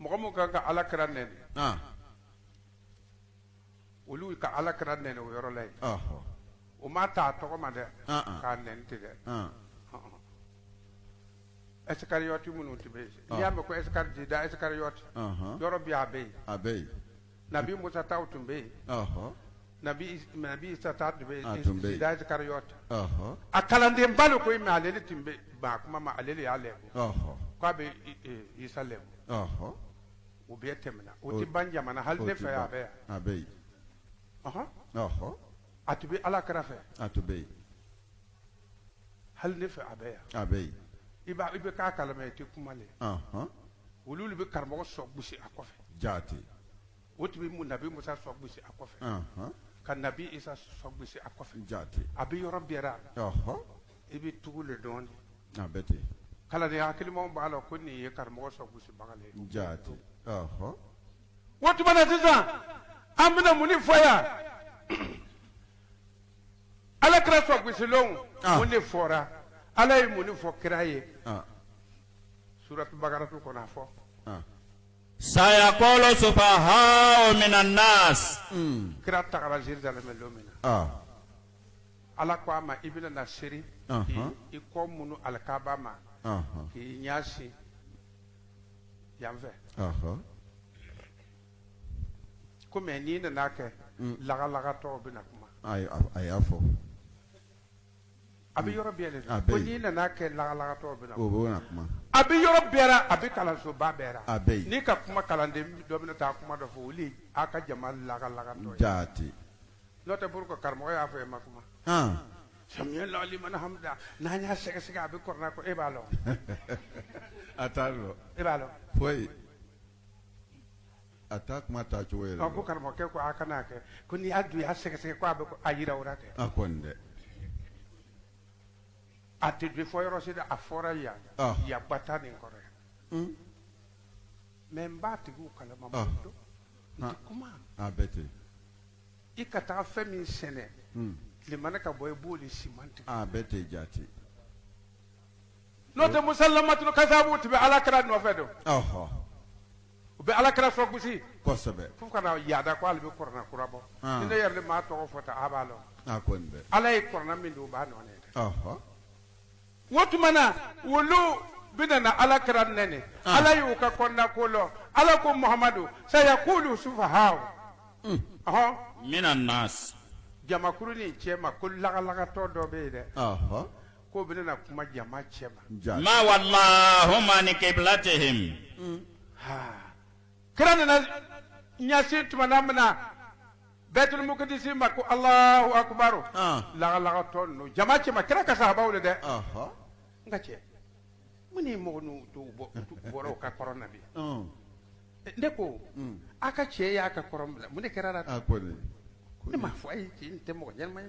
A: mɔgɔ min ka ka Alakira nɛni olu ka Alakira nɛni o yɔrɔ la yen o
B: ma taa
A: tɔgɔ ma dɛ k'a nɛni tɛ dɛ Isikariɔti minnu tun bɛ yen n'i y'a mɛn ko Jida Isikariɔti yɔrɔ bɛ a bɛ yen
B: Nabi Musa
A: taw tun bɛ yen, ɔhɔ, Nabi Nabi Isa ta tun bɛ yen, a tun bɛ yen, Jida Isikariɔti, ɔhɔ, a kalandenba don koyi mais ale de tun bɛ ban a kuma ma, ale de y'a lebu, ɔhɔ, k'a bɛ Isa lebu, ɔhɔ, o bɛɛ tɛmɛna, o tɛ ban jama na, hali ne fɛ yan a bɛ yan, a bɛ yen,
B: ɔhɔ, ɔhɔ,
A: a tun bɛ Alakira fɛ, a tun bɛ yen. hali ne fɛ a bɛ yan a bɛ yen
B: i b'a i bɛ
A: k'a kalama i tɛ kuma le anhan olu de bɛ karamɔgɔ sɔ gosi a kɔfɛ jaati
B: o tun bɛ
A: mu- nabi musa sɔ gosi a kɔfɛ anhan ka nabi isa sɔ gosi a kɔfɛ jaati a bɛ yɔrɔ
B: bɛɛ
A: ra ɔhɔ i bɛ tugu le dɔn de a bɛ
B: ten kalanden
A: hakilimaw b'a lɔn ko nin ye karamɔgɔ sɔ gosibaga le ye jaati ɔhɔ o tuma na sisan an bɛna mun de fɔ yan Ala kira sɔ gosilenw ah. mun de fɔra Ala ye mun de fɔ kira ye ah. suratu bakaratu kɔnɔ a fɔ ah. sayaqulu
C: sufahaa'u minan nas hmm. kira
A: tagara Jerusalem don min na Ala ko a ma i bɛna na seri i kɔ munu alikaaba ma k'i ɲɛsin yan fɛ kɔmi n'i nan'a kɛ lagalagatɔ bɛ na kuma a y'a
B: fɔ
A: a bɛ yɔrɔ bɛɛ la n'i nan'a kɛ lagalagatɔ bɛ na kuma a bɛ
B: yɔrɔ bɛɛ
A: ra a bɛ kalansoba bɛɛ ra n'i ka kuma
B: kalanden
A: dɔ bɛna taa kuma dɔ fɔ olu a ka jama lagalagatɔ jaati
B: n'o
A: tɛ pour que karamɔgɔ y'a fɔ e ma kuma samiyallahu liman hamida n'an y'a sɛgɛsɛgɛ a bɛ kɔrɔna kɔnɔ e b'a
B: lɔn e b'a lɔn A t'a kuma taa cogo ye ko karamɔgɔkɛ ko a kana
A: kɛ ko n'i y'a dun y'a sɛgɛsɛgɛ ko a bɛ a yira o ra kɛ a ko dɛ a tɛ bi fɔ yɔrɔ si dɛ a fɔra yan yan gbata nin kɔrɔ yan mɛ n b'a tigi kalama dɛ n tɛ kuma a bɛ
B: ten i ka
A: taa fɛn min sɛnɛ tilema na ka bɔ i b'o de siman tigɛ a bɛ ten jaati n'o tɛ musalamatulu kasaabu tun bɛ alakira nɔfɛ don ɔhɔ u bɛ alakira sɔ gosi kosɛbɛ fo ka
B: na
A: yaada ko ale bɛ kɔrɔna kura bɔ Ah. ni ne yɛrɛ de m'a tɔgɔ fɔ ta a b'a lɔn a kɔni dɛ ala
B: ye kɔrɔna min don o
A: b'a nɔ na dɛ ɔhɔ o tuma na olu bɛna na alakira nɛni Ah. ala y'u ka kɔnɔna ko lɔn ala ko muhamadu sayaqulu sufahaa'u ɔhɔn
C: minan nas jamakuru
A: nin cɛ ma ko lagalagatɔ dɔ bɛ yen dɛ ɔhɔ ko bɛ na kuma jama cɛ ma ma
C: wallahum an qiblatihim
A: kira nana ɲɛsin tuma min na Baitul Maqdis ma ko Allahu akbar lagalagatɔ ninnu jama cɛ ma kira ka sahabaw le dɛ n ka cɛ mun ne mɔgɔ ninnu bɔra o ka kɔrɔn na bi ne ko a ka cɛ y'a ka kɔrɔn bila mun ne kɛr'a la ne ma fɔ a ye cɛ nin tɛ mɔgɔ ɲɛnama ye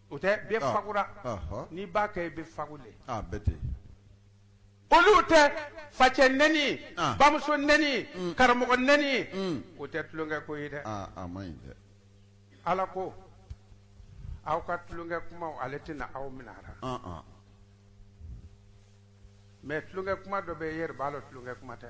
B: O
A: tɛ bɛ fagura n'i b'a kɛ i bɛ fagu le olu tɛ facɛ nɛni bamuso nɛni karamɔgɔ nɛni o tɛ tulonkɛ ko ye dɛ
B: ala
A: ko aw ka tulonkɛ kuma ale tɛna aw minɛ a ra mɛ tulonkɛ kuma dɔ bɛ yen e yɛrɛ b'a lɔn tulonkɛ kuma tɛ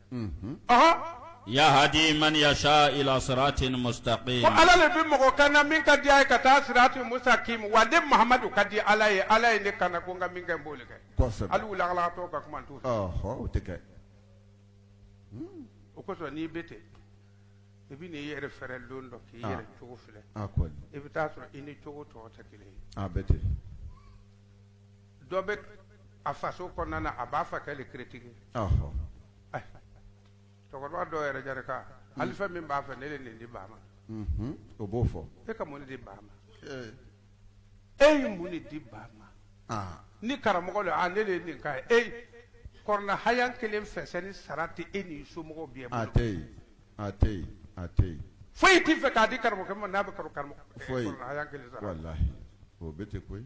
C: yahdi man yasha ila siratin mustaqim ko ala de bɛ
A: mɔgɔ kana min ka di a ye ka taa siratin mustaqim wa ne mamadu ka di ala ye ala ye ne kana ko n ka min kɛ n b'o le kɛ ala wulila ka kuma tɛ o kosɔn n'i bɛ ten i bɛ i yɛrɛ fɛrɛ don dɔ k'i yɛrɛ cogo filɛ i bɛ taa sɔrɔ i ni cogo tɔw tɛ kelen ye dɔ bɛ a faso kɔnɔna na a b'a fakɛ le critiquer cɛkɔrɔba dɔw yɛrɛ jari kan hali fɛn min b'a fɛ ne de nin di ba ma o b'o
B: fɔ e ka mun di ba
A: ma e ye mun de di ba ma ni karamɔgɔ don ne de nin ka e kurana haya kelen fɛsɛni sara tɛ e ni somɔgɔw bɛɛ a tɛ yen a tɛ
B: yen a tɛ yen foyi t'i fɛ k'a
A: di karamɔgɔkɛ ma n'a bɛ
B: kurana haya kelen sara
A: o
B: bɛ tɛ koyi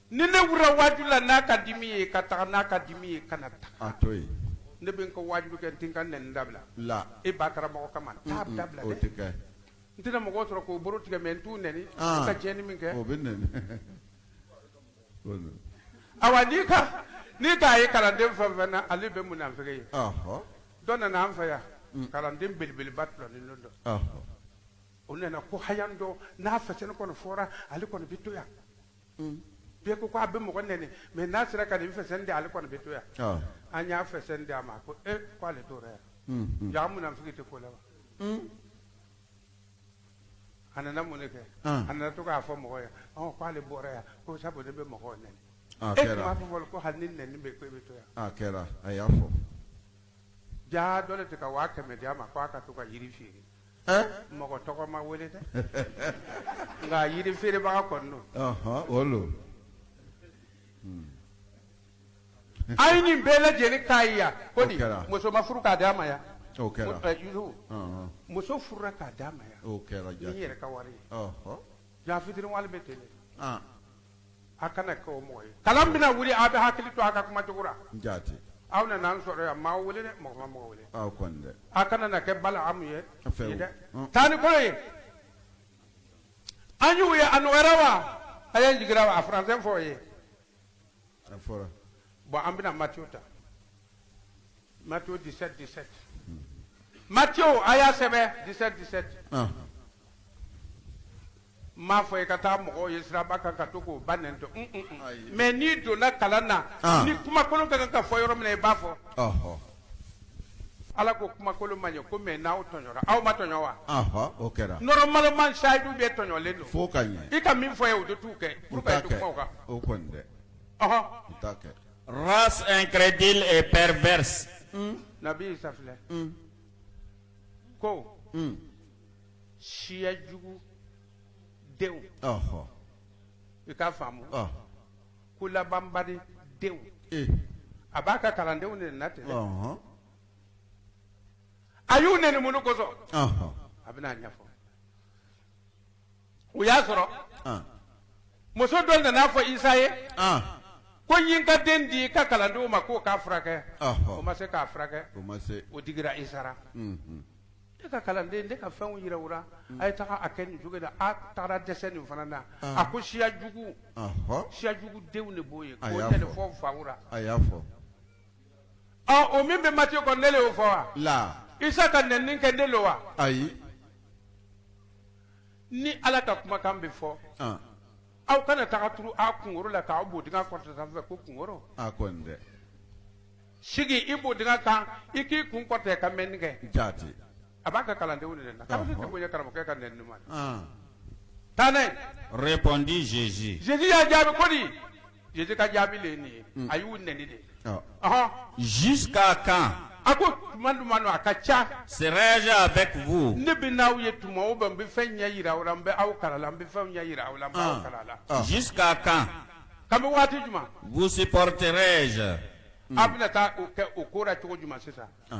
A: Ni ne wulila waajuli la n'a ka di min ye ka taga n'a ka di min ye kana
B: taga ne bɛ n ka
A: waajuli kɛ n tɛ n ka nɛni dabila la e
B: bataramɔgɔ kama
A: t'a dabila o tɛ
B: kɛ n tɛna mɔgɔ
A: sɔrɔ k'o bolo tigɛ mɛ n t'u nɛni ka tiɲɛni min kɛ o bɛ
B: nɛni
A: ayiwa n'i ka n'i ta ye kalanden fɛn fɛn na ale bɛ munafiki ye dɔ nana an fɛ yan mm. kalanden belebeleba tɔlɔnin dɔ o nana ko haya dɔ n'a fɛsɛni kɔni fɔra ale kɔni bɛ to yan bɛɛ ko a bɛ mɔgɔ nɛni mɛ n'a sera ka nin fɛsɛni di ale kɔni bɛ to yan an y'a fɛsɛni di a ma ko e ko ale tora yan jaa munafiki tɛ ko la wa a nana mun kɛ a nana to k'a fɔ mɔgɔ ye k'ale bɔra yan ko sabu ne bɛ mɔgɔ nɛni e m'a fɔ fɔlɔ ko hali ni nɛni bɛ ko e bɛ to yan kɛra a y'a fɔ jaa dɔ de tɛ ka waa kɛmɛ di a ma k' a ka to ka yiri feere Ɛn? Mɔgɔ tɔgɔ ma wele dɛ. Nka yiri feerebaga kɔni don. Ɔhɔn, o don. A ye nin bɛɛ lajɛlen k'a ye yan. Ko di, O kɛra. muso ma furu k'a d'a ma yan. O kɛra. Ɛ,
B: Yusufu,
A: Ɔnhɔn. muso furula k'a d'a ma yan. O kɛra ni n yɛrɛ ka
B: wari ye.
A: Ɔhɔn. Jaa fitiriwale bɛ ten de. An. a kana kɛ o mɔgɔ ye kalan bɛna wuli a bɛ hakili to a ka kuma cogo la jaati aw
B: nana an
A: sɔrɔ yan an ma aw wele dɛ mɔgɔ ma mɔgɔ wele aw kɔni dɛ a kana
B: na kɛ
A: Balaamu ye A fɛ ye dɛ Hɔn. taa ni kolo ye an y'u ye a nɔgɔyara wa a ye jigira wa a faransɛ fɔ o
B: ye a fɔra Bon, an
A: bɛna Mathieu ta. Mathieu 17, 17. Mathieu, a y'a sɛbɛn 17, 17. ahan N m'a fɔ i ka taa mɔgɔw ye siraba kan ka to k'o ba nɛni, un un un, ayi, mais n'i donna kalan na, an, ni kumakolon ka kan ka fɔ yɔrɔ min na i b'a fɔ, ɔhɔ, Ala ko kumakolon man ɲi ko mais n'aw tɔɲɔra, aw ma tɔɲɔ wa? Ɔhɔ, o kɛra,
B: normalement
A: sayidu bɛɛ tɔɲɔlen don, f'o ka ɲɛ, i ka min
B: fɔ ye o de
A: t'u kɛ, u t'a kɛ, o kɔni
B: dɛ, ɔhɔ, u t'a kɛ, race
C: incrédule et perverse un, Nabi
A: Isa filɛ, un, ko, un siya jugu denw Ɔhɔ. i k'a faamu Ɔ. ko labanbari denw Ee. a b'a ka kalandenw neni na ten dɛ. Ɔhɔn. a y'u neni mun de kosɔn Ɔhɔn. a bɛna a ɲɛfɔ o y'a sɔrɔ ah, muso dɔ nana fɔ isa ye ah, ko n ye n ka den di i ka kalandenw ma k'o k'a furakɛ ɔhɔ. o ma se k'a furakɛ o ma se o digira isa la Mhm. ne ka kalanden ne ka fɛnw yira aw ra a ye taga a kɛ nin cogo in na a tagara dɛsɛ nin fana na Ah. a ko siya jugu ɔhɔ. siya jugu denw de b'o ye A k'o y'a tɛ de fɔ. fɔ fawura a y'a fɔ ɔ o min bɛ Matthieu kɔnɔ ne le y'o fɔ wala isa ka nɛni kɛ ne lo wa ayi ni ala ka kumakan bɛ fɔ aw kana taga turu a kunkolo la k'aw bodingɛ kɔrɔta sanfɛ ko kunkolo sigi i bodingɛ kan i k'i kun kɔrɔta ka mɛnni kɛ jaati
B: a b'a ka
A: kalandenw nɛni na bonya karamɔgɔkɛ ka n ɲuman tan ne répondit Jésus Jésus y'a
C: jaabi ko
A: di Jésus ka jaabi le nin a y'u nɛni dɛ Ɔ,
C: ɔhɔn Jusqu'à quand a ko tuma
A: jumɛn don a ka ca serai-je avec
C: vous ne bɛ n'aw ye tuma
A: bɛɛ n bɛ fɛn ɲɛ yira aw la n bɛ aw kalan na n bɛ fɛnw ɲɛ yira aw la n bɛ aw kalan na Ah. Jusqu'à
C: quand kabini
A: waati jumɛn vous supporterai-je
C: a bɛna
A: taa o ko la cogo jumɛn sisan ɔ.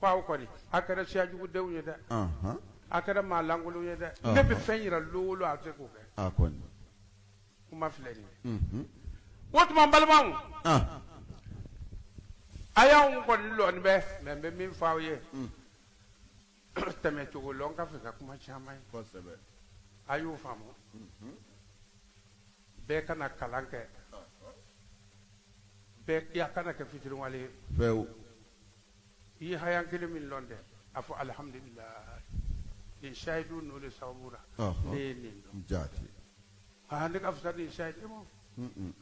A: Ko aw kɔni a kɛra siya jugu denw ye dɛ a kɛra maa lankolonw ye dɛ ne bɛ fɛn yira lon o lon a tɛ k'o
B: kɛ kuma
A: filɛ nin o tuma balimamɔgɔw a y'an kɔni lɔn ne bɛ mɛ bɛ min fɔ aw ye tɛmɛ cogo lɔn ka fisa kuma caman
B: ye a y'o
A: faamu bɛɛ ka na kalan kɛ bɛɛ kana kɛ fitiriwale ye i ye hayan kelen min lɔn dɛ a fɔ alihamdulilayi nin sayidu n'o de sababu la Ɔhɔ. ne ye nin dɔn
B: Jaati. aa ne
A: ka fisa ni sayidu ye ma Mm-mm.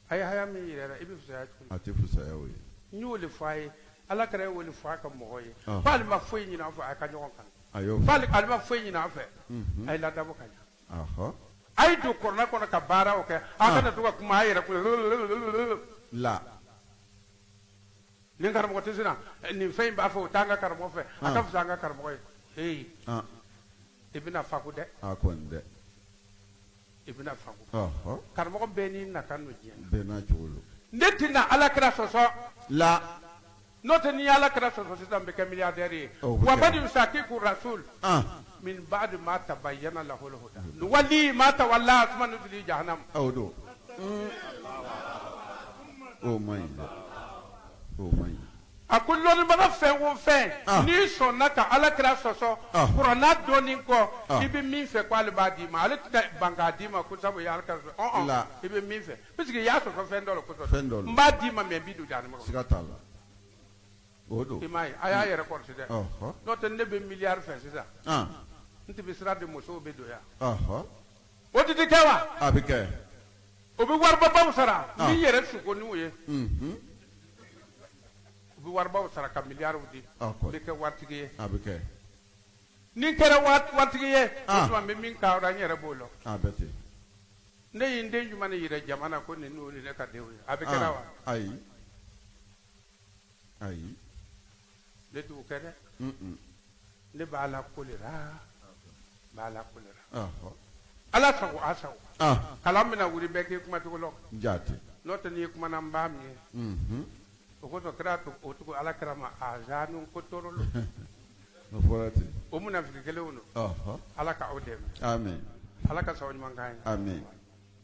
A: a ye haya min yira i la i bɛ fisaya cogo di A tɛ fisaya o ye.
B: n y'o de fɔ a
A: ye ala kira ye o de fɔ a ka mɔgɔw ye Ɔhɔ. k'ale ma foyi ɲini an fɛ a ka ɲɔgɔn kanu A y'o fɔ. k'ale ale
B: ma foyi
A: ɲini an fɛ a ye laada bɔ ka ɲa Ɔhɔ. a ye don kurana kɔnɔ ka baaraw kɛ a kana to ka kuma a yɛrɛ kun
B: na.
A: Nin karamɔgɔ tɛ sina nin fɛn in b'a fɛ o t'an ka karamɔgɔ fɛ a ka fisa an ka karamɔgɔ ye ee i bɛna faku dɛ i
B: bɛna
A: faku karamɔgɔ bɛɛ n'i nakan don
B: diɲɛ ne tɛna
A: ala kira sɔsɔ
B: la n'o tɛ
A: n'i ala kira sɔsɔ sisan n bɛ kɛ milliardaire ye wa man yushaqiqu rasul min ba'di ma tabayyana lahu l-huda nuwallihi ma tawalla wa nuslihi
B: jahannam
A: a ko lɔnnibaga fɛn o fɛn n'i sɔnna ka ala kira sɔsɔ kurana dɔnni kɔ i bɛ min fɛ k' ale b'a d'i ma ale tɛ ban k'a d'i ma ko sabu i bɛ min fɛ puisque i y'a sɔsɔ fɛn dɔ le kosɔn n b'a d'i ma mɛ i bɛ don
B: O don i m'a ye a
A: y'a yɛrɛ kɔlɔsi dɛ ɔhɔ n'o tɛ ne bɛ miliyari fɛ sisan n tun bɛ sira de musow bɛ don yan ɔhɔ o tun tɛ kɛ wa a bɛ kɛ
B: o bɛ
A: waribabaw sara Ah. min yɛrɛ suko n'u ye unhun u bɛ waribaw sara ka miliyariw di Ah, kɔni. n bɛ kɛ waritigi ye a bɛ
B: kɛ
A: ni n kɛra wa- waritigi ye Ah. o tuma n bɛ min ka n yɛrɛ bolo a bɛ ten
B: ne
A: ye n den jumɛn de jira jama na ko nin n'o ye ne ka denw ye a bɛ kɛra wa an ayi ayi ne t'o kɛ dɛ ne b'a la ko de la b'a la ko de la ala sago a sago kalan bɛna wuli bɛɛ k'i kuma cogo lɔn jaati n'o tɛ
B: n'i
A: kumana n b'a mɛn o ko kɛra cogo o cogo ala kira ma azanu ko tɔɔrɔ la o
B: fɔra ten o munafigi kelenw
A: don ala ka aw dɛmɛ ala ka sababu ɲuman
D: k'an ye